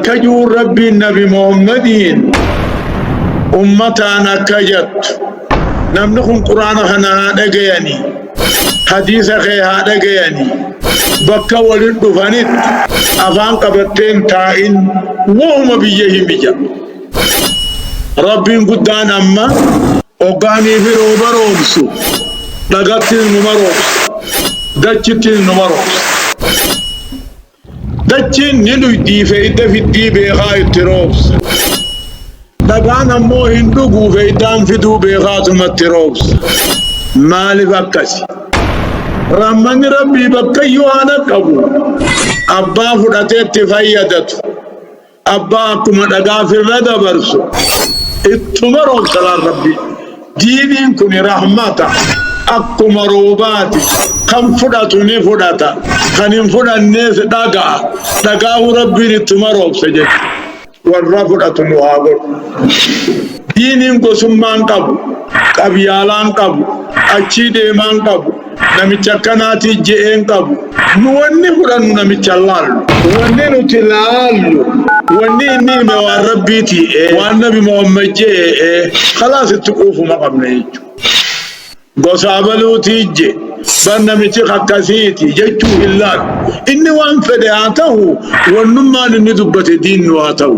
Kajuun Rabbiin Nabi Muhammadiin ummataan akka jattu namni kun quraana kana haa dhagayanii hadiisa kee haa dhagayanii bakka walin dhufanitti afaan qabatteen taa'in wahuma biyya himi jedha. Rabbiin guddaan amma hoggaanii fi rooba roobsu dhagattiin numa roobsa dachittiin numa roobsa. Dachiin ni dhuydii feeyda fiddii beekaa itti roobsa. Dhagaan ammoo hin dhuguu feeydaan fiduu beekaatuma itti roobsa. Maalif akkasi? Rahmanni Rabbii bakkayyuu haa dhaqqabu. Abbaa fudhatee itti fayyadatu. Abbaa akkuma dhagaa firra dabarsu ittuma roobsa laal rabbi. Diiniin kuni rahmata akkuma roobaati kan fudhatu ni fudhata kan hin fudhannees dhaga'a dhagaa'u rabbiin ittuma roobsa jedhe warra fudhatu nu haa godhu. Diiniin gosummaan qabu qabyaalaan qabu achii deemaan qabu namicha akkanaati je'een qabu. Nu wanni fudhannu namicha laallu. Wanni nuti laallu wanni inni hime waan rabbiiti ee waan nabi Muhammad je'e ee khalaas itti quufuma qabna jechuudha. Gosa abaluutii je bar namichi kakkasiiti jechuu hin laallu. Inni waan fedhe haa tahu wannummaan inni dubbate diin nu haa tahu.